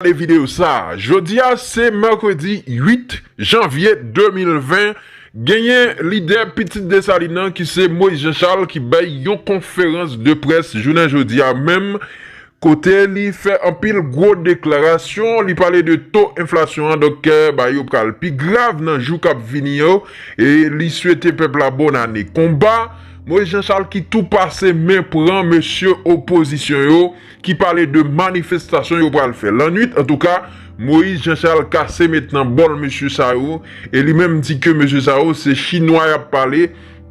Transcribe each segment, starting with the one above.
Gade videyo sa a. Jodi a se mèkredi 8 janvye 2020, genyen lidè pitit Desalin nan ki se Moyiz Janchal ki bay yon konferans de près jounen jodi a menm kote li fè anpil gwo deklarasyon, li pale de to enflasyon an donk kè bagay yo pral pi grav nan jou k ap vini yo e li swete pèp la bòn ane konba. Moyiz Janchal ki tou pase men pran mesye opozisyon yo. ki pale de manifestasyon yo pral fè lannwit antouka Moïse Jean Charles kase met nan bòl mesye sa yo e li menm di ke mesye sa yo se chinwa yap pale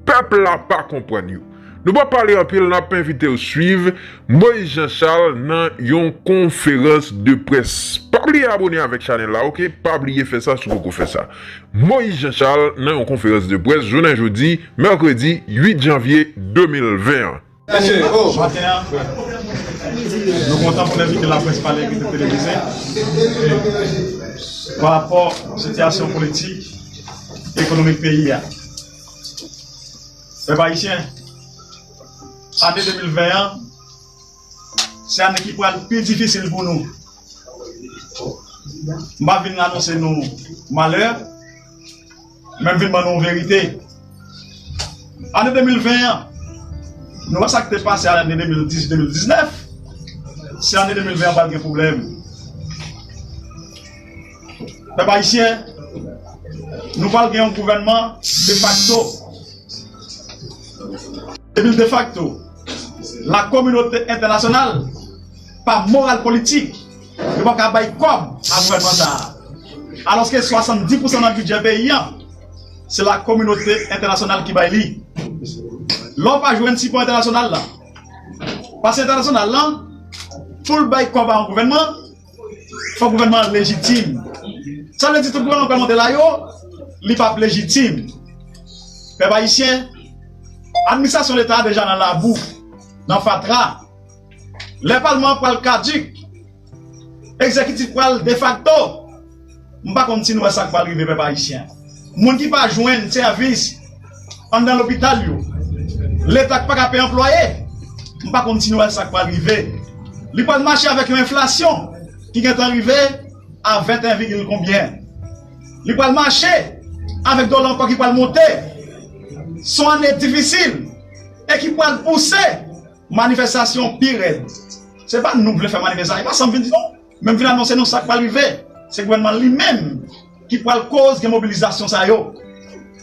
pèp la pa konprann yo. Nou pa pale anpil nap envitew swiv Moïse Jean Charles nan yon konferans de près. Pa bliye abone avèk chanèl la ok pa bliye fè sa si w poko fè sa Moïse Jean Charles nan yon konferans de près jounen jodi mèkredi 8 janvye 2020 an. Maten an, nou kontan pou nou envite laprès pale ak Inter Televize pa rapò sitiyasyon politik, ekonomik peyi a. Pèp Ayisyen, ane 2020 an, se ane ki pral pi difisil pou nou. M pa vin anonse nou malè. Men m vin ban nou yon verite, ane 2020 an, nou wè sa k te pase ane 2018, 2019, si ane 2020 an pral gen pwoblèm. Pèp ayisyen, nou pral gen yon gouvènman defakto. Depi l defakto, lakominote entènasyonal pa moral politik. Yo pa ka bay kòb a gouvènman sa a. Alòske 70 pousan nan bidjè peyi an, se lakominote entènasyonal ki bay li. Lè w pa jwenn sipò entènasyonal la, pase entènasyonal la, pou l bay kòb a yon gouvènman, fòk gouvènman an lejitim. Sa vle di tout gouvènman k pral monte la yo, li p ap lejitim. Pèp ayisyen, administrasyon leta a deja nan labou, nan fatra. Lè palman an pral caduc, executif pral defacto, m pa konn si nou wè sak pral rive pèp ayisyen. Moun ki pa jwenn sèvis anndan lopital yo, leta k paka peye anplwaye, m pa konn si nou wè sak pral rive. Li pral mache avèk yon enflasyon ki gentan rive a 21 vigil konbyen. Li pral mache avèk dola ankò ki pral monte. S on ane difisil e ki pral pouse. Manifestasyon pi rèd. Se pa nou k vle fè manifestasyon, e pa sa m vin di non. Men m vin anonse nou sa k pral rive. Se gouvènman an li menm ki pral koz gen mobilizasyon sa yo.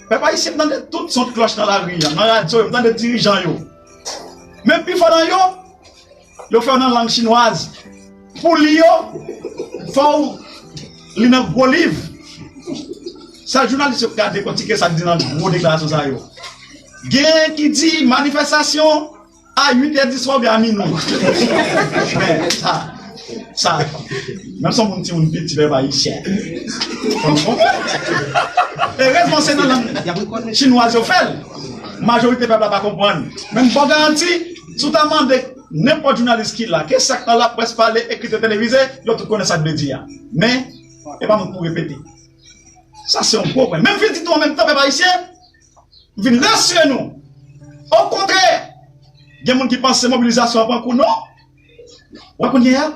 Pèp ayisyen m tande tout son klòch nan lari an, nan radyo yo, m tande dirijan yo. Men pifò nan yo, yo fè yo nan lang chinwaz. Pou li yo fow li nan gwo liv. Sèl jounalis yo ka dekòtike sak di nan gwo deklarasyon sa yo. Gen ki di manifestasyon a 8 è di swa oubyen a minwi. Men sa sa menm si yon moun timoun pil ti pèp ayisyen fòk nou konprann. Erezman se nan lang chinwaz yo fèl. Majorite pèp la pa konprann. Men m baw garanti si w ta mande. Nenpòt jounalis ki la, ke sa k nan laprès, pale, ekri, televize, yo tout konnen sa k vle di a. Men, e pa moun pou repete. Sa se yon gwo pwen. Men m vin di tou an menm tan, pèp ayisyen, m vin rasire nou. Okontrè, gen moun ki panse mobilizasyon an pran kou non. Wè kounye a,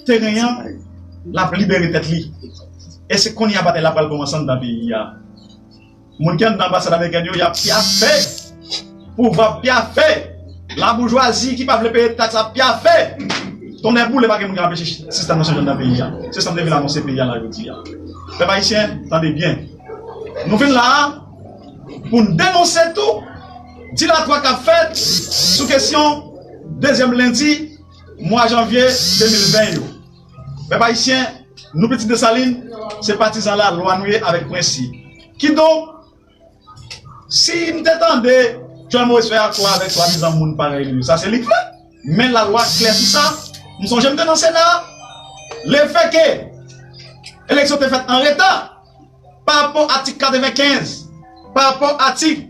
teren an, l ap libere tèt li. E se kounye a batay la pral koumanse anndan peyi a. Moun ki anndan anbasad amerikèn yo yap pyafe, pouvwa ap pyafe, la boujwazi ki pa vle peye taks ap pyafe, tonnè boule pa gen moun ki anpeche sistèm nan chanje nan peyi a, se sam te vin anonse peyi a la jodi a. Pèp ayisyen tande byen, nou vin la a poun denonse tou dilatwa kap fèt sou kesyon dezyèm lendi mwa janvye 2020 yo. Pèp Ayisyen, nou pitit Desalin, se patizan lalwa nou ye avèk prensip. Kidonk, si n te tande Jwenn Moris fè akò avèk swadizan moun parèy li yo, sa se li k fè. Men lalwa klè sou sa. M sonje m te nan Sena a. Lefètke eleksyon te fèt anreta parapò atik 95, parapò atik.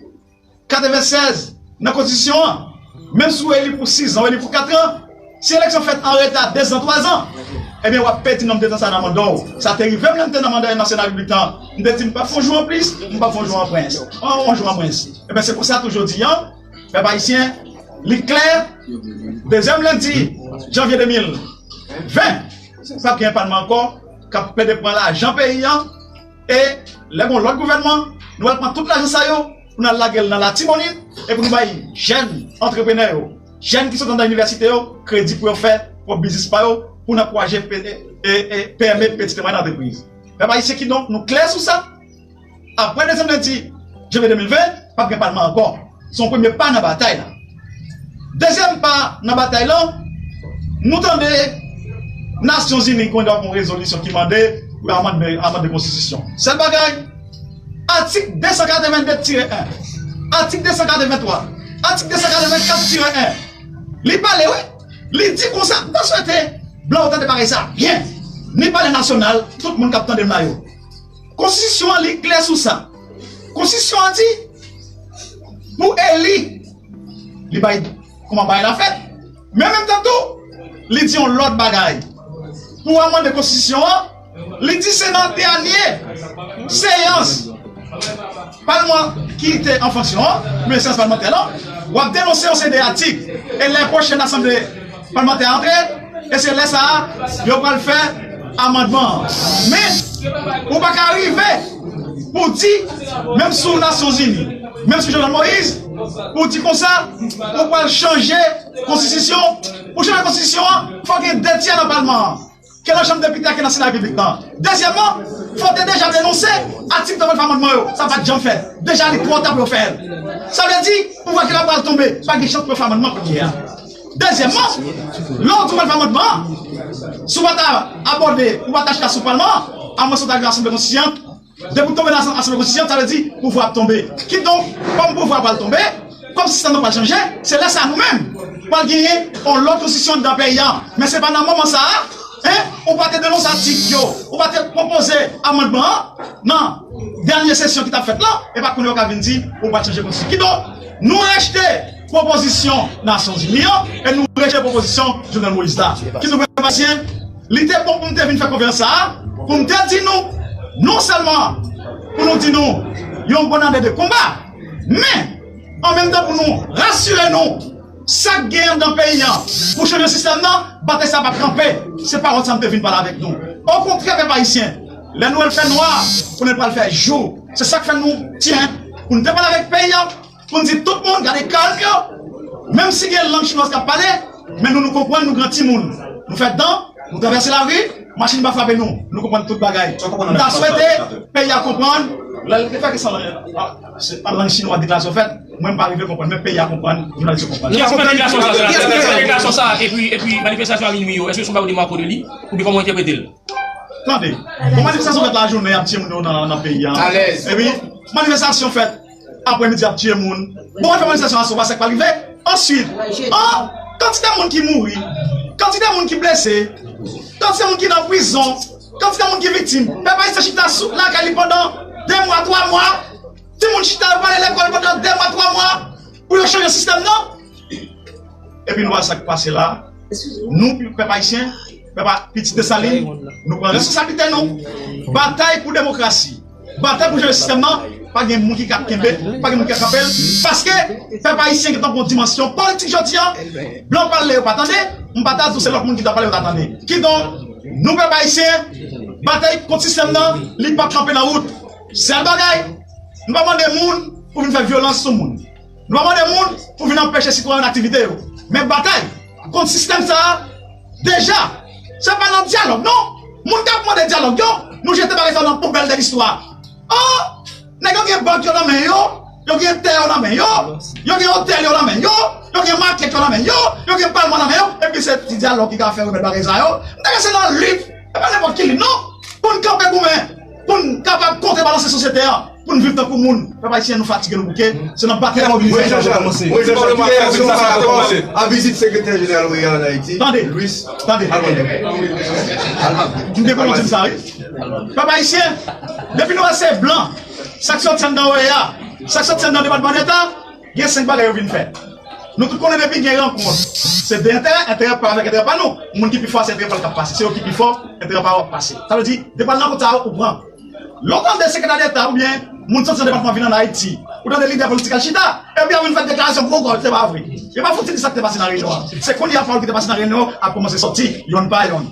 96 nan konstitisyon an, menm si w eli pou sizan, w eli pou katran, si eleksyon fèt an reta dezan, twazan, ebyen w ap pèdi nonm de tan sa nan manda w. Sa te rive m lè m te nan manda yon nasyonal uit an, m te di m p ap fè yon jou anplis, m p ap fè yon jou anprens, yon jou anmwens. Ebyen se konsa tou jodi an, pèp ayisyen, li klè, dezyèm lendi janvye 2020, p ap gen palman ankò k ap plede pran lajan peyi an, E lè gon lòt gouvènman, nou al pran tout lajan sa yo pou nou al lage l nan Latibonit e pou nou bay jèn antreprenè yo, jèn ki sot anndan inivèsite yo kredi pou yo fè pwòp biznis pa yo pou n ankouraje PME, peti e mwayèn antrepriz. Pèp ayisyen kidonk nou klè sou sa, aprè dezyèm lendi janvye 2020, p ap gen palman ankò. se yon premye pa nan batay la. Dezyèm pa nan batay lan, nou tande Nasyon Zini kwen dòk yon rezolisyon ki mande pou yo amande konstitisyon. Sèl bagay, atik 282 tire 1, atik 283, atik 284 tire 1, li pale wi, li di konsa, m ta swete blan yo tande parèy sa byen, ni palè nasyonal, tout moun k ap tande m la yo. Konstitisyon an li klè sou sa. Konstitisyon an di pou eli li bay kouman bagay la fèt. Men menm tan tou, li di yon lòt bagay. Pou amande konstitisyon an, li di se nan dènye seyans. Palman ki te an fonksyon an, men seyans palmantè lan, w ap denonse yon seri de atik, e lè pwochèn asanble palmantè a antre, e se lè sa a yo pral fè amandman an. Men, ou pa ka rive pou w di, menm sou Nasyonzini, menm sou Jovenel Moïse, pou w di konsa, ou pral chanje konstitisyon, pou w chanje konstitisyon an, fòk gen 2 tyè nan palman an. ke nan chanm depite a ke nan sena repiblik nan. Dezyèmman, fò te deja denonse atik 39 amandman yo, sa pat janm fèt. Deja li twò ta pou yo fè l. Sa vle di, pouvwa ki la pral tonbe, pa gen chans pou yo fè amandman kounye a. Dezyèmman, lè ou di w pral fè amandman an, si w pa ta abòde, ou pa ta chita sou palman an, amwenske w ta gen asanble konstityant, Depi w tonbe nan Asanble Konstitisyon sa vle di pouvwa ap tonbe. Kidonk, kòm pouvwa pral tonbe, kòm sistèm nan pral chanje, se lè sa nou menm pral genyen yon lòt Konstitisyon anndan peyi an. Men se pa nan moman sa a, en, ou pa te denonse atik yo, ou pa te pwopoze amandman an nan dènye sesyon ki t ap fèt lan, e pa kounye a w ka vin di ou pral chanje Konstitisyon. Kidonk, nou rejte. Pwopozisyon Nasyonzini yo e nou rejte pwopozisyon Jovenel Moïse la. Ki nou menm Ayisyen, li te bon pou nou te vin fè konferans sa a pou nou te di nou non sèlman pou nou di nou yon bòn ane de konba, men an menm tan pou nou rasire nou sa k gen anndan peyi an pou chanje sistèm nan, batay sa a pap kanpe. Se pawòl sa nou te vin pale avèk nou. Okontrè pèp Ayisyen, lè nou wè l fè nwa, konnen l pral fè jou. Se sa k fè nou di pou nou te pale avèk peyi an. Pou n di tout moun gade kalk yo, menm si gen lang chinoise k ap pale, men nou nou konprann nou gran timoun, nou fè dan, nou travèse lari, machin pa frape nou, nou konprann tout bagay. M ta swete peyi a konprann, lè l te fè ke san lang chinwa deklarasyon fèt, mwen m pa rive konprann, men peyi a konprann, jounalis yo konprann. Ki eski fè deklarasyon sa a? Ki eski fè deklarasyon sa a? Epi manifestasyon a minui yo, eske se yon bagay ou demako de li? Oubyen kòman ou entèprete l? Tande, bon manifestasyon fèt lajounen y ap tiye moun yo nan peyi a, epi manifestasyon fèt. Aprè midi ap tiye moun. Bon wè fè manifestasyon asoba sak pa rive? Answit oh kantite moun ki mouri, kantite moun ki blese, kantite moun ki nan prizon, kantite moun ki viktim. Pèp ayisyen chita sou lakay li pandan 2 mwa 3 mwa. Ti moun chita yo pa ale lekòl pandan 2 mwa 3 mwa pou yo chanje sistèm nan. Epi nou wè sak pase la nou pèp ayisyen. Epa pitit Desalin, nou pran responsablite nou, batay pou demokrasi, batay pou chanje sistèm nan, pa gen moun ki ka kenbe l, pa gen moun ki ka kanpe l, paske pèp ayisyen gentan pran dimansyon politik jodi a, blan pale yo pa tande, m pa ta di w se lòt moun ki ta pale yo ta tande. Kidonk, nou pèp ayisyen, batay kont sistèm nan, li pap kanpe nan wout. Sèl bagay, nou pa mande moun pou vin fè vyolans sou moun, Nou ap mande moun pou vin anpeche sitwayen nan aktivite yo. Men batay kont sistèm sa a deja se pa nan dyalòg non. Moun k ap mande dyalòg yo, nou jete bagay sa yo nan poubèl de listwa. Oh! Nèg yo gen bank yo nan men yo, yo gen tè yo nan men yo, yo gen otèl yo nan men yo, yo gen makèt yo nan men yo, yo gen palman nan men yo, epi se ti dyalòg ki ka fè remèd bagay sa yo. M ta kwè se nan lit, e pa nenpòt ki lit non, pou n kanpe goumen. Pou n kapab kontrebalanse sosyete a, pou n viv tankou moun, pèp ayisyen nou fatige nou bouke, se nan batay mobilizasyon sa dwe kòmanse. Mwen Jan Chal, kiyè aksyon sa a kòmanse a vizit sekretè jeneral OEA an Ayiti, Louis Almagro. Pèp ayisyen, depi nou wè se blan, sa k sòti anndan OEA, sa k sòti anndan Depatman Deta, Gen 5 bagay yo vin fè. Nou tout konnen depi gen rankont, se 2 enterè, enterè pa yo avèk enterè pa nou. Moun ki pi fò a se enterè pa l k ap pase. Se yo ki pi fò, enterè pa yo ap pase. Sa vle di, depann rankont sa yo ou pran. Lè w tande sekretè deta oubyen moun soti nan depatman vin ann Ayiti, ou tande lidè politik al chita, epi y ap vin fè deklarasyon gwo gòj, se pa vre. Yo pa fouti di sa ki te pase nan reyinyon an. Se kounye a pawòl ki te pase nan reyinyon an ap kòmanse soti, yonn pa yonn.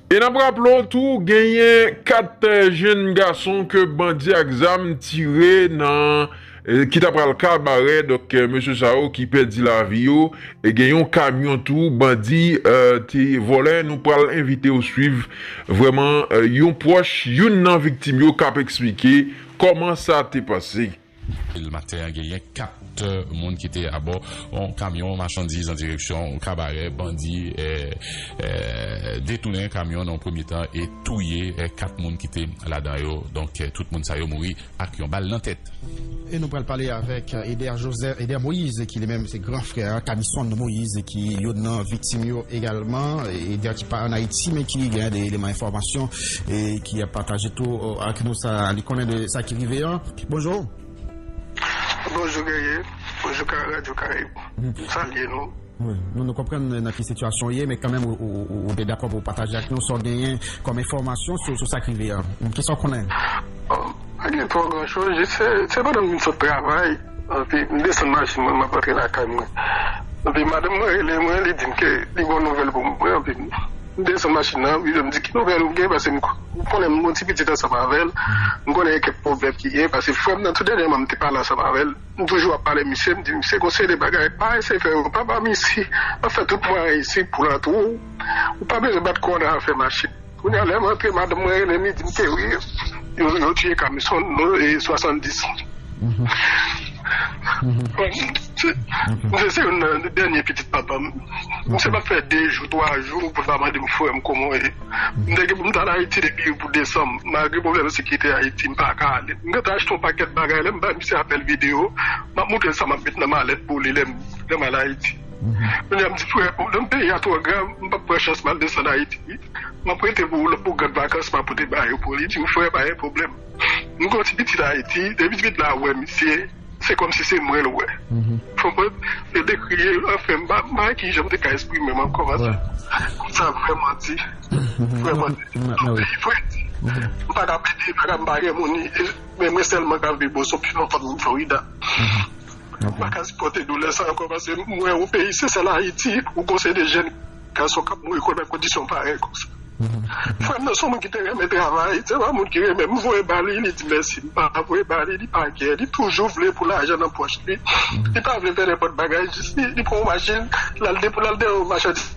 E n ap raple w tou genyen 4 jenn gason ke bandi ak zam tire nan ki ta pral Kabarè donk mesye sa yo ki pèdi lavi yo e gen yon kamyon tou bandi te vòlè nou pral envite w swiv vrèman yon pwòch youn nan viktim yo k ap eksplike kòman sa te pase. Vil Maten an genyen 4 moun ki te abò yon kamyon machandiz an direksyon Kabarè. Bandi detounen kamyon nan yon premye tan e touye 4 moun ki te ladan yo. Donk tout moun sa yo mouri ak yon bal nan tèt. E nou pral pale avèk Eder Joseph, Eder Moïse ki li menm se gran frè a Camison Moïse ki youn nan viktim yo egalman. Eder ki pa an Ayiti men ki genyen de eleman enfòmasyon e ki ap pataje tou ak nou sa li konnen de sa ki rive an. Bonjour. Bonjou Guerrier, bonjou ka radyo karayib m salye nou. Wi, nou nou konprann nan ki sitiyasyon ou ye men kanmenm ou te dakò pou w pataje ak nou sa w genyen kòm enfòmasyon sou sa k rive a. Kisa w konnen? Bon, pa gen twò gran choz, jis se pandan m vin sot travay epi m desann machin mwen m ap rantre lakay mwen epi madanm mwen rele mwen li di m ke li gen yon nouvèl pou mwen epi m desann machin nan epi m di ki nouvèl ou gen paske m Ou konnen m gon ti pitit ansanm avè l, m konnen kèk pwoblèm ki genyen pase frè m nan tou dènyèman m te pale ansanm avè l, m toujou ap pale misye, m di misye gon seri de bagay pa eseye fè yo, pa ba misye, m ap fè tout mwayen isip pou l antre w, ou pa bezwen bat kò nan afè machin. Kounye a lè m antre madanm mwen rele m li di m ke wi yo tiye Camison no 70. Misye se youn nan dènye pitit papa m, misye p ap fè 2 jou 3 jou pou l pa mande m frè m kòman w ye. M te gen pou m t al Ayiti depi pou desanm. Malgre pwoblèm sekirite Ayiti, m pa ka ale. M gen tan achte yon pakèt bagay. Lè m bay misye apèl videyo, m ap montre l sa m ap met nan malèt pou li lè m lè m al Ayiti. Kounye a m di, Frè, pwoblèm peyi a twò grav, m pap pran chans m al desann Ayiti. M ap prete pou ou lòt pou gad vakans m ap pote ba yo pou li. Li di m, Frè, pa gen pwoblèm. M gen yon ti pitit Ayiti. Depi ti pitit la wè misye. Se kòmsi se mwen l wè. Konprann? Yo dekri l anfen m pa wè ki jan m te ka esprime m ankò paske sa vrèman di. Vrèman di. Anpil vre di. M pa ka plede, m pa ka m pa renmen w ni men mwen sèlman ka viv Boston pi lontan m Florida. M pa ka sipòte doulè sa ankò paske m wè yon peyi se sèl Ayiti ou konseye de jèn. Gason kap mouri kò nan kondisyon parèy konsa. Frèm nan son moun ki te renmen travay, se pa moun ki renmen m voye ba li, li di mèsi m pa voye ba li, li pa gen, li toujou vle pou lajan nan pòch li, li pa vle fè nenpòt bagay jis li, li pran yon machin lal depo, lal depo yon machandiz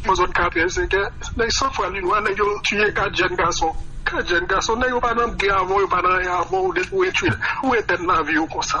nan zòn katrè, senkè, nèg san fwa ni lwa, nèg yo tiye 4 jèn gason, 4 jèn gason, nèg yo pa nan bgy avèw, yo pa nan anyen avèw, depi ou etid, ou etèn laviw konsa.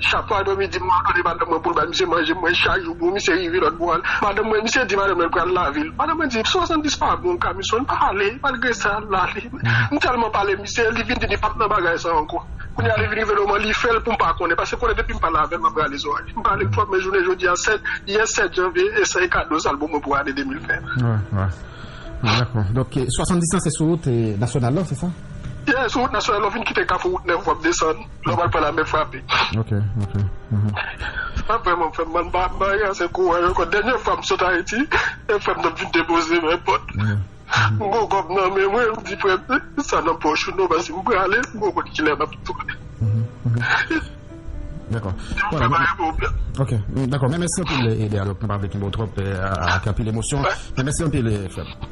Chak fwa Domi di m padone madanm mwen pou l bay misye manje mwen chak jou pou misye rive lòt bò a madanm mwen misye di madanm nan pral lave l madanm mwen di 70 pa bon Camison pa ale malgre sa l ale m tèlman pale misye li vin di li pap nan bagay sa ankò kounye a li vin rive nan moman li fè l pou m pa konnen pase konnen depi m pale avè l map rale zòrèy m pale l twòp men jounen jodi a 7 yè 7 janvye e sa e kado sa l ban mwen pou ane 2020 Dakò donk 70 lan se sou wout nasyonal la se sa? Yè sou wout nasyonal lè w fin kite kafou wout nèf wap desann. Lè w pral pran lame frape. Ok ok uhmm. Sa vreman fem mal mpa mpa gen ase kouraj anko denye fwa m sot ayiti e frem nan vin depozem èpòt m gon kob nan menm wi m di frem met sa nan poch ou non paske m prale m poko konn kilè map tounen. Dako ok dako men mèsi anpil Eder nou pa vle kenbew trop ak anpil emosyon men mèsi anpil frem.